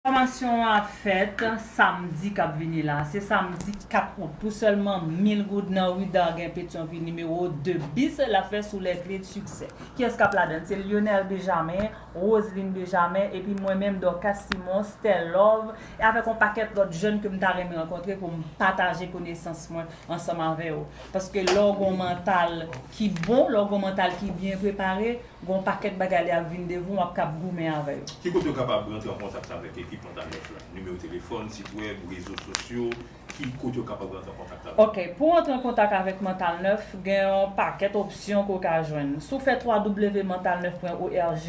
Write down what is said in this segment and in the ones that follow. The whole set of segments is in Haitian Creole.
Fòmasyon an ap fèt samdi k ap vini la, se samdi 4 out, pou sèlman 1000 goud nan ri Dargen Petyonvil nimewo 2 bis, l ap fèt sou Les Clés du Succès. Kiyès k ap ladann? Se Lyonel Bejamen, Roseline Bejamen, epi mwen menm Dorcas Simon, Stellove, avèk yon pakèt lòt jèn ke m ta renmen rankontre pou m pataje konesans mwen ansanm avè yo. Paske lè w gen yon mantal ki bon, lè w gen yon mantal ki byen prepare, Gen yon pakèt bagay lè y ap vin devan w, w ap kab goumen avè yo. Ki kote yo kapab rantre an kontak avèk ekip Montagne Neige la? Nimewo telefòn, sit wèb, rezo sosyo, ki kote yo kapab rantre an kontak avèk nou? Ok, pou w antre an kontak avèk Mental Neuf, gen yon pakèt opsyon ke w ka jwenn. Si w fè www.mentalneuf.org,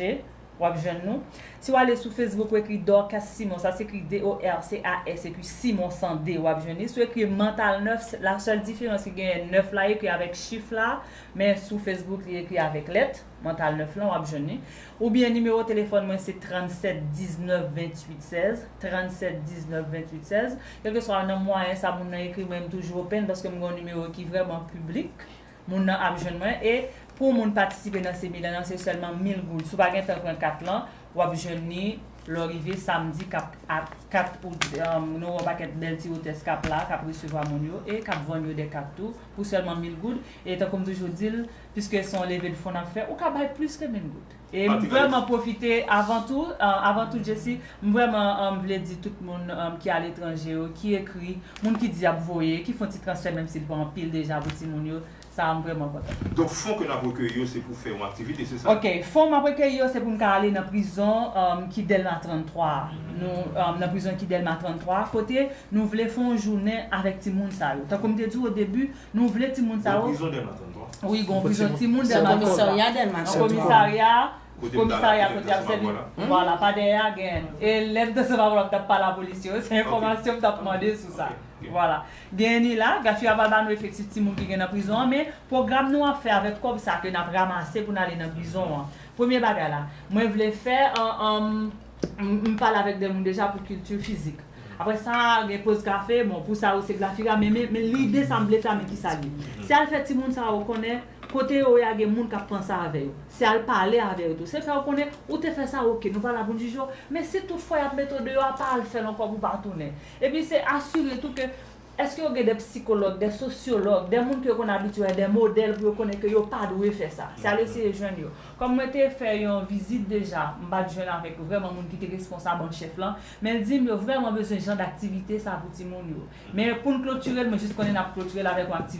w ap jwenn nou. Si w ale sou Facebook, w ekri Dorcas Simon, sa s'ekri D-O-R-C-A-S epi Simon san D, w ap jwenn li. Si w ekri Mental Neuf, la sèl diferans ki genyen, 9 la ekri avèk chif la, Men sou Facebook li ekri avèk lèt, Mantal 9 lan wap jwenn li. Oubyen nimewo telefòn mwen se 37 19 28 16, 37 19 28 16. Kèlkeswa nan mwayen sa moun nan ekri mwen m toujou open paske m gen yon nimewo ki vrèman piblik. Moun nan ap jwenn mwen e pou moun patisipe nan seminè lan se sèlman 1000 goud. Si w pa gen tan pran kat lan, W ap jwenn ni lè w rive samdi 4 out nou wè yon pakèt bèl ti otès k ap la k ap resevwa moun yo e k ap vann yo dè kat tou pou sèlman mil goud e tankou m toujou di l piske se yon leve de fon n ap fè ou ka bay plis ke mil goud e m vrèman pwofite avan tou avan tou Jesi m vrèman vle di tout moun ki aletranje yo ki ekri moun ki di y ap voye ki fon ti transfè menm si l pa anpil deja pou timoun yo Sa a m vrèman kontan. Donk fon ke n ap rekeyi yo se pou fè yon aktivite, se sa? Ok, fon m ap rekeyi yo se pou m ka ale nan prizon ki Dèlma 33 a. Nou nan prizon ki Dèlma 33 a kote nou vle fè yon jounen avèk timoun sa yo. Tankou m te di w odebi, nou vle timoun sa yo. Gon prizon Dèlma 33? Wi, gon prizon timoun Dèlma 33. Nan komisarya Dèlma 33. Nan komisarya. Komisarya kote yap sèvi vwala pa dèyè a gen e lèm te sèvi avèw tap pale a polis yo se enfòmasyon m tap mande sou sa vwala gen ni la gras yo aval ba nou efektif timoun ki gen nan prizon an men pwogram nou ap fè avèk kòb sa ke nap ramase pou n ale nan prizon an premye bagay la mwen vle fè m pale avèk de moun deja pou kilti fizik aprè sa gen poz kafe bon pou sa yo se grafira men lide sa m vle fè a men kisa l ye se al fè timoun sa yo konnen. Kote yo ya gen moun kap panse avè yo. Se al pale avè yo tou. Se fè yo konnen ou te fè sa ok nou pa la pou n jije w. Men si tout fwa yap mete w deyò a pa al fè l ankò pou w pa tounen. Epi se asire tou ke eske yo gen de psikològ, de sosyològ, de moun ke yo konn abitye wè, de modèl pou yo konnen ke yo pa dwe fè sa. Se al eseye jwenn yo. Kòm mwen te fè yon vizit deja, m pat jwenn avèk vrèman moun ki te responsab an chèf lan, men l di m yo vrèman bezwen jan daktivite sa pou timoun yo. Men pou n klotire l mwen jis konnen nap klotire l avèk yon aktivite.